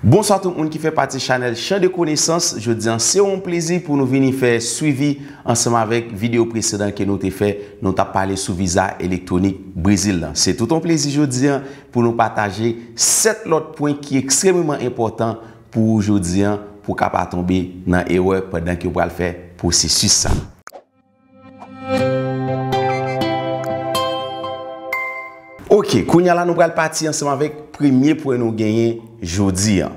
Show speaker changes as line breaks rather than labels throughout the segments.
Bonswa tout moun ki fè pati chanèl Chan de konesans, jodi an se yon plezi pou nou vini fè swivi ansanm avèk videyo presedan ke nou te fè, nou tap pale sou viza elektwonik Brezil lan. Se tout yon plezi jodi an pou nou pataje 7 lòt pwen ki ekstrememan enpòtan pou ou jodi an pou ka pa tonbe nan erè pandan ke ou pral fè pwosesis sa. Ok, kounya la nou pral pati ansanm avèk premye pwen nou genyen jodi an.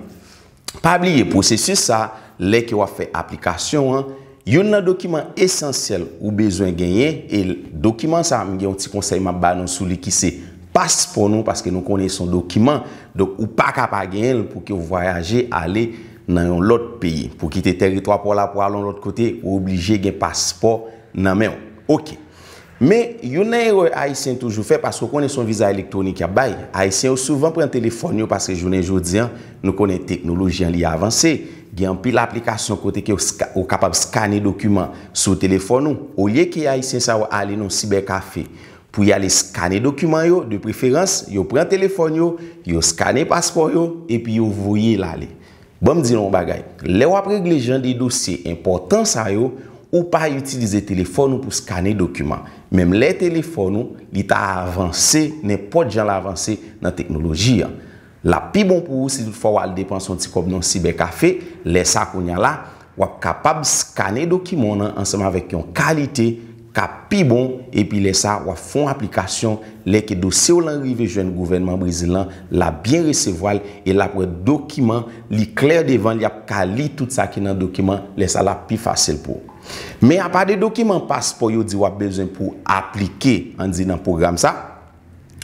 Pa bliye pwosesis sa, lè ke wap fè aplikasyon an, youn nan dokiman esansyèl ou bezwen genyen, e dokiman sa m gen yon ti konsèy map ba nou sou li ki se paspò nou, paske nou konnen son dokiman, donk ou paka pa genyen l pou ke w vwayaje ale. nan yon lòt peyi. Pou kite tèritwa pa w la pou al yon lòt kote, ou oblije gen paspò nan men w. Ok. Men, youn nan erè Ayisyen toujou fè, paske ou konnen se yon viza elektwonik y ap bay, Ayisyen yo souvan pran telefòn yo paske jounen jodi an, nou konnen teknoloji an li avanse, gen anpil aplikasyon kote ke ou kapab skane dokiman sou telefòn ou. Olye ke Ayisyen sa yo ale nan yon sibèkafe Pou y ale skane dokiman yo, de preferans, yo pran telefòn yo, yo skane paspò yo, epi yo voye l ale. Ban m di nou yon bagay, lè w ap regle jan de dosye enpòtan sa yo, ou pa itilize telefòn ou pou skane dokiman, menm lè telefòn ou li ta avanse nenpòt jan l avanse nan teknoloji an. L ap pi bon pou ou si tout fwa w al depanse yon ti kòb nan yon sibèkafe, lè sa kounye a la, w ap kapab skane dokiman w nan ansanm avèk yon kalite k ap pi bon epi lè sa w ap fè yon aplikasyon, lè ke dosye w lan rive jwenn gouvènman Brezil lan, l ap byen resevwa l e l ap wè dokiman li klè devan li ap ka li tout sa ki nan dokiman, lè sa l ap pi fasil pou ou. Men apa de dokiman paspò yo di w ap bezwen pou w aplike, an di nan pwogram sa,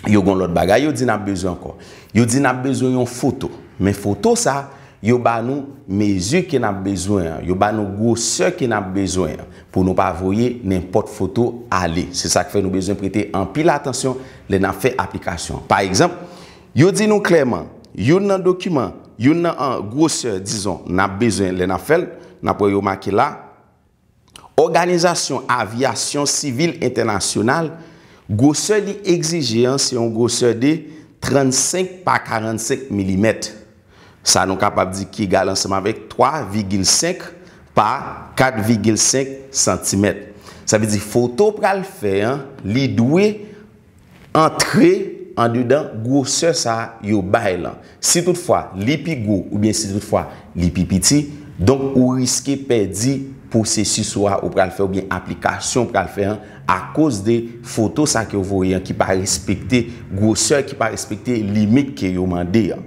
yo gen yon lòt bagay yo di n ap bezwen ankò. Yo di n ap bezwen yon foto. Men foto sa, yo ba nou mezi ke n ap bezwen an. Yo ba nou gwosè ke n ap bezwen an. Pou nou pa voye nenpòt foto ale. Se sa k fè nou bezwen prete anpil atansyon lè n ap fè aplikasyon an. Pa egzanp, yo di nou klèman, youn nan dokiman, youn nan gwosè, dizon, n ap bezwen lè n ap fè l, n ap wè yo make la, Òganizasyon Avyasyon Sivil Entènasyonal, gwosè li egzije an se yon gwosè de 35 pa 45 milimèt, sa nou kapab di ki egal ansanm avèk 3 vigil 5 pa 4 vigil 5 santimèt. Sa vle di foto pral fè an li dwe antre andedan gwosè sa a yo bay lan. Si tout fwa li pi gwo oubyen si tout fwa li pi piti, donk ou riske pèdi pwosesis ou a ou pral fè oubyen aplikasyon ou pral fè an akoz de foto sa ke ou voye an ki pa respekte gwosè, ki pa respekte limit ke yo mande an.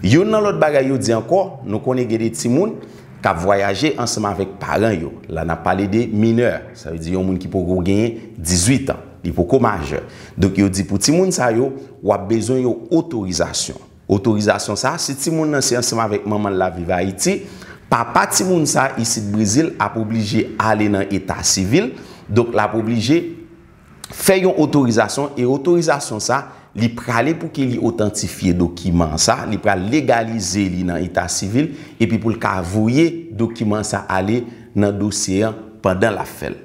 Youn nan lòt bagay yo di ankò, nou konnen gen de timoun k ap vwayaje ansanm avèk paran yo. La n ap pale de minè, sa vle di yon moun ki poko genyen 18 an. Li poko majè. Donk yo di pou timoun sa yo, w ap bezwen yon otorizasyon. Otorizasyon sa, si timoun nan se ansanm avèk manman l l ap viv Ayiti, papa timoun sa isit Brezil ap oblije ale nan eta sivil, donk l ap oblije fè yon otorizasyon e otorizasyon sa, li prale pou ke li otantifye dokiman sa, li pral legalize li nan eta sivil epi pou l ka voye dokiman sa ale nan dosye an pandan l ap fè l.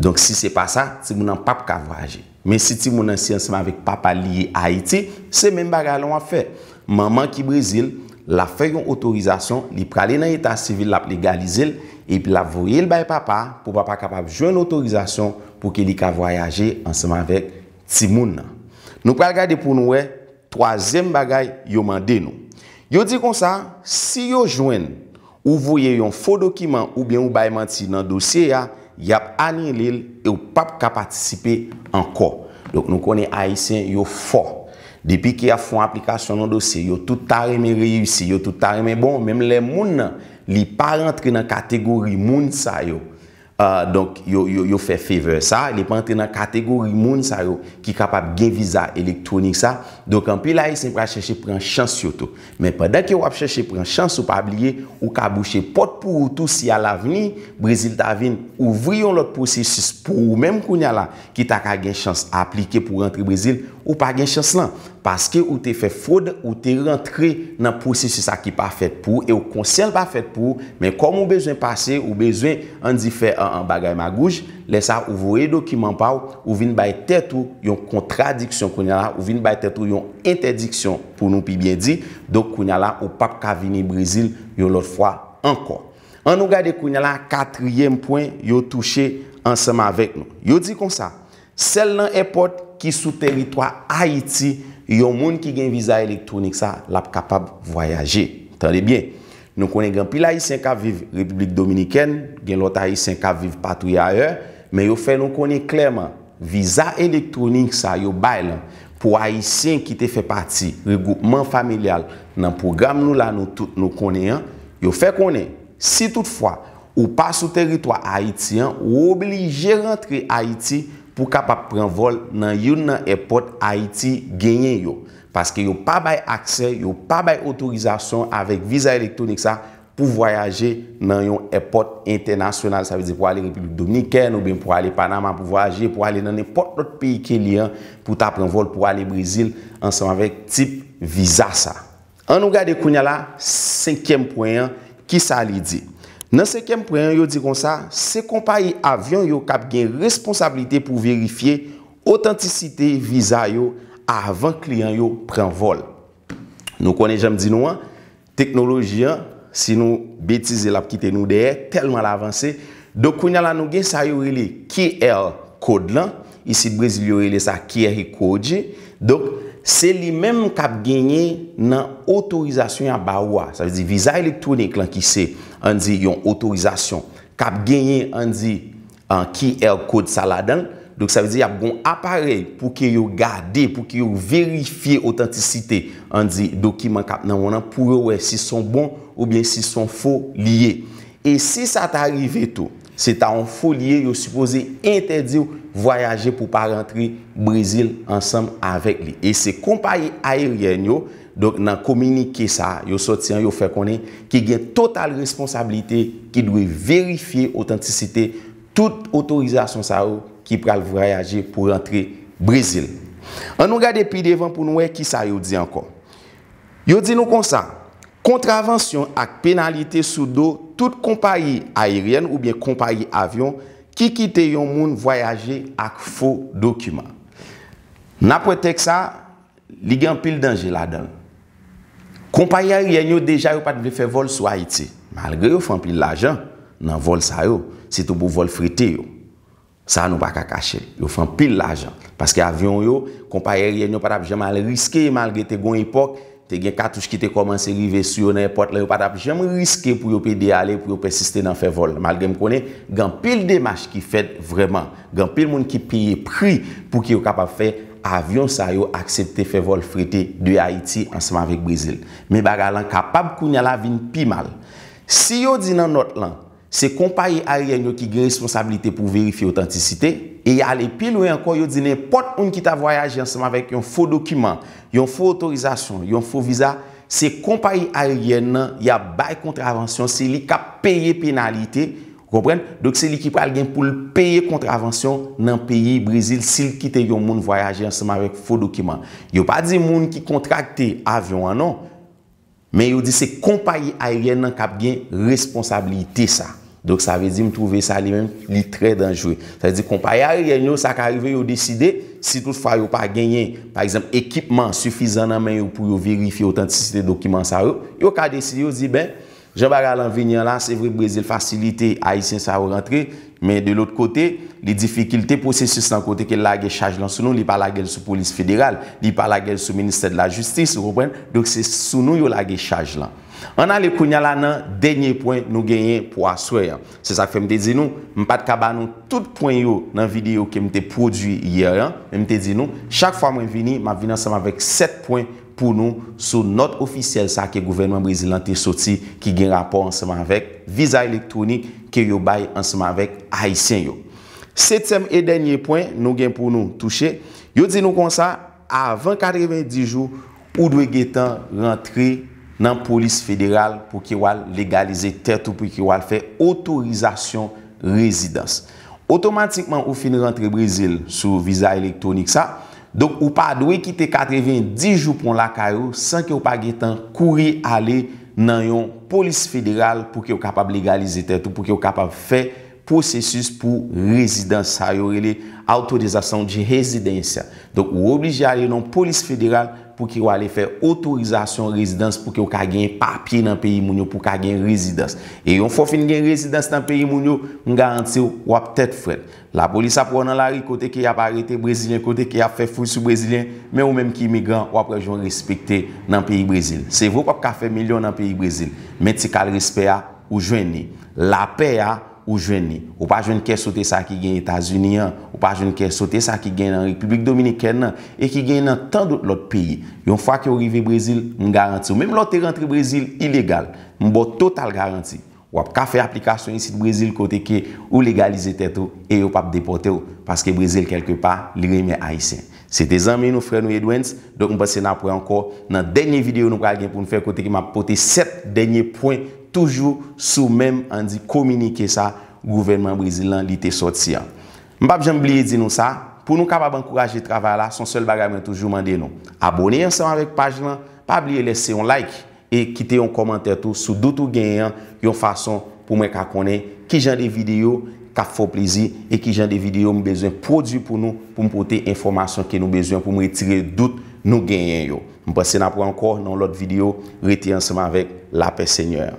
Donk si se pa sa, timoun nan pap ka vwayaje. Men si timoun nan si ansanm avèk papa li ye Ayiti, se menm bagay lan wap fè. Manman ki Brezil, lap fè yon otorizasyon, li prale nan eta sivil lap legalize l, epi lap voye l bay papa pou papa kapab jwenn otorizasyon pou ke li ka vwayaje ansanm avèk timoun nan. Nou pral gade pou nou wè twazyèm bagay yo mande nou. Yo di konsa, si yo jwenn. Ou voye yon fo dokiman oubyen ou bay manti nan dosye a, y ap anile l e w p ap ka patisipe ankò. Donk nou konnen Ayisyen yo fò. Depi ke y ap fè yon aplikasyon nan dosye, yo tout ta renmen reyisi, yo tout ta renmen bon, menm lè moun nan li pa rantre nan kategori moun sa yo. Donk, yo fè favor sa. Li pa antre nan kategori moun sa yo ki kapab gen viza elektwonik sa. Donk, anpil Ayisyen pral chèche pran chans yo tou. Men, pandan ke w ap chèche pran chans ou, pa bliye, ou ka bouche pòt pou ou tou si alavni, Brezil ta vin ouvri yon lòt pwosesis pou ou menm kounya la, ki ta ka gen chans aplike pou rantre Brezil, ou pa gen chans lan. Paske ou te fè fwod, ou te rantre nan pwosesis sa ki pa fèt pou ou e ou konsyan l pa fèt pou ou, men kòm ou bezwen pase, ou bezwen, an di fè bagay magouj, lè sa ou voye dokiman pa w, ou vin bay tèt ou yon kontradiksyon kounya la, ou vin bay tèt ou yon entèdiksyon pou nou pi byen di, donk kounya la ou pap ka vini Brezil yon lòt fwa ankò. An nou gade kounye la katriyèm pwen yo touche ansanm avèk nou. Yo di konsa, sèl nan èpòt ki sou teritwa Ayiti yon moun ki gen viza elektwonik sa l ap kapab vwayaje. Tande byen, nou konnen gen anpil Ayisyen k ap viv Repiblik Dominikèn, gen lòt Ayisyen k ap viv patouye ayè, men yo fè nou konnen klèman viza elektwonik sa yo bay lan Pou Ayisyen ki te fè pati regwoupman familyal nan pwogram nou la nou tout nou konnen an, yo fè konnen, si tout fwa ou pa sou teritwa Ayiti an ou oblije rantre Ayiti pou kapab pran vòl nan youn nan èpòt Ayiti genyen yo, paske yo pa bay aksè, yo pa bay otorizasyon avèk viza elektwonik sa Pou vwayaje nan yon èpòt entènasyonal, sa vle di pou ale Repiblik Dominikèn oubyen pou ale Panama pou vwayaje, pou ale nan nenpòt lòt peyi ke li an, pou w ta pran vòl pou ale Brezil ansanm avèk tip viza sa. An nou gade kounye a la senkyèm pwen an, ki sa li di? Nan senkyèm pwen an, yo di konsa, se konpayi avyon yo k ap gen responsablite pou verifye otantisite viza yo avan kliyan yo pran vòl. Nou konnen jan m di nou an, Teknoloji an, si nou betize lap kite nou dèyè, tèlman l avanse. Donk kounya la nou gen sa yo rele QR kod lan, isit Brezil yo rele sa QR code. Donk se li menm kap genyen nan otorizasyon yap ba ou a. Sa vle di viza elektwonik lan ki se ann di yon otorizasyon kap genyen ann di An QR code sa ladanl. Donk sa vle di ap gon aparèy pou ke yo gade, pou ke yo verifye otantisite, an di dokiman kap nan won an pou yo wè si son bon oubyen si son fo li ye. E si sa ta rive tou, se ta yon fo li ye, yo sipoze entèdiw vwayaje pou pa rantre Brezil ansanm avèk li. E se konpayi ayeryèn yo Donk nan kominike sa a yo sòti an yo fè konnen ki gen total responsablite ki dwe verifye otantisite tout otorizasyon sa yo ki pral vwayaje pou rantre Brezil. An nou gade pi devan pou nou wè ki sa yo di ankò. Yo di nou konsa, Kontravansyon ak penalite sou do tout konpayi ayeryèn oubyen konpayi avyon ki kite yon moun vwayaje ak fo dokiman. N ap wè tèks sa a. Li gen anpil danje ladan l. Konpayi ayeryèn yo deja yo pa t vle fè vòl sou Ayiti, malgre yo fè anpil lajan nan vòl sa yo, sitou pou vòl frete yo. Sa a nou pa ka kache l, yo fè anpil lajan. Paske avyon yo, konpayi ayeryèn yo pa t ap janm al riske, malgre te gen yon epòk, te gen katouch ki te kòmanse rive sou yo nan èpòt la, yo pa t ap janm riske pou yo pede ale, pou yo pèsiste nan fè vòl. Malgre m konnen gen anpil demach ki fèt vrèman. Gen anpil moun ki peye pri pou ki yo kapab fè avyon sa yo aksepte fè vòl frete de Ayiti ansanm avèk Brezil. Men bagay lan kapab kounya la vin pi mal. Si yo di nan nòt lan, se konpayi aryèn yo ki gen responsabilite pou verifye otantisite, e y ale pi lwen ankò yo di nenpòt moun ki ta vwayaje ansanm avèk yon fo dokiman, yon fo otorizasyon, yon fo viza, se konpayi aryèn lan y ap bay kontravansyon, se li k ap peye penalite, Ou konprann? Donk se li ki pral gen pou l peye kontravansyon nan peyi Brezil si l kite yon moun vwayaje ansanm avèk fo dokiman. Yo pa di moun ki kontrakte avyon an non. Men yo di se konpayi ayeryèn nan k ap gen responsablite sa. Donk sa vle di m twouve sa li menm li trè danjre. Sa vle di konpayi ayeryèn yo sa ka rive yo deside, si tout fwa yo pa genyen pa egzanp ekipman sifizan nan men yo pou yo verifye otantisite dokiman sa yo, yo ka deside yo di ben Jan bagay lan vini an la, se vre Brezil fasilite Ayisyen sa yo rantre, men de lòt kote, li difikilte pwosesis lan kote ke l lage chaj lan sou nou, li pa lage l sou polis federal, li pa lage l sou ministè de la jistis, ou konprann? Donk se sou nou yo lage chaj lan. Ann ale kounya la nan dènye pwen nou genyen pou aswè an. Se sa k fè m te di nou, m pa t ka ba nou tout pwen yo nan videyo ke m te pwodui yè an, men m te di nou, chak fwa mwen vini, m ap vini ansanm avèk 7 pwen pou nou sou nòt ofisyèl sa ke gouvènman Brezil lan te soti ki gen rapò ansanm avèk viza elektwonik ke yo bay ansanm avèk Ayisyen yo. Setyèm e dènye pwen nou gen pou nou touche, yo di nou konsa avan 90 jou ou dwe gentan rantre nan polis federal pou ke wal legalize tèt ou pou ke wal fè otorizasyon rezidans. Otomatikman ou fin rantre Brezil sou viza elektwonik sa, Donk ou pa dwe kite 90 jou pon lakay ou san ke ou pa gen tan kouri ale nan yon polis federal pou ke ou kapab legalize tèt ou, pou ke ou kapab fè pwosesis pou rezidans sa yo rele Autorizasyon de Residência. Donk ou oblije ale nan yon polis federal pou ke ou ale fè otorizasyon rezidans pou ke ou ka gen papye nan peyi moun yo pou ka gen rezidans. E yon fwa ou fin gen rezidans nan peyi moun yo, m garanti ou, w ap tèt frèt. Lapolis ap wè w nan lari kote ke y ap arete Brezilyen, kote ke y ap fè fouy sou Brezilyen, men ou menm ki imigran, w ap wè jan w respekte nan peyi Brezil. Se vre w p ap ka fè milyon nan peyi Brezil, men ti kal respè a, ou jwenn li. Lapè a, ou jwenn li. Ou pa jwenn kè sote sa ki gen Etazini an, ou pa jwenn kè sote sa ki gen nan Repiblik Dominikèn nan, e ki gen nan tan dout lòt peyi. Yon fwa ke w rive Brezil, m garanti w, menm lè w te rantre Brezil ilegal, m ba w total garanti, Wap ka fè aplikasyon isit Brezil kote ke ou legalize tèt ou e yo pap depòtew paske Brezil kèlke pa li renmen ayisyen. Se te zanmi nou frè nou Edwens, donk m panse nap wè ankò nan dènye video nou pral gen poun fè kote ke map pote 7 dènye pwen toujou sou menm an di kominike sa gouvènman Brezil lan li te sòti an. M pap janm bliye di nou sa, pou nou kapab ankouraje travay la son sèl bagay mwen toujou mande nou, abone ansanm avèk paj lan, pa bliye lèse yon like. e kite yon kòmantè tou sou dout ou genyen an yon fason pou mwen ka konnen ki jan de videyo k ap fè w plezi e ki jan de videyo m bezwen pwodui pou nou pou m pote enfòmasyon ke nou bezwen pou m retire dout nou genyen yo. M panse n ap wè ankò nan yon lòt videyo. Rete ansanm avèk lapè Senyè a.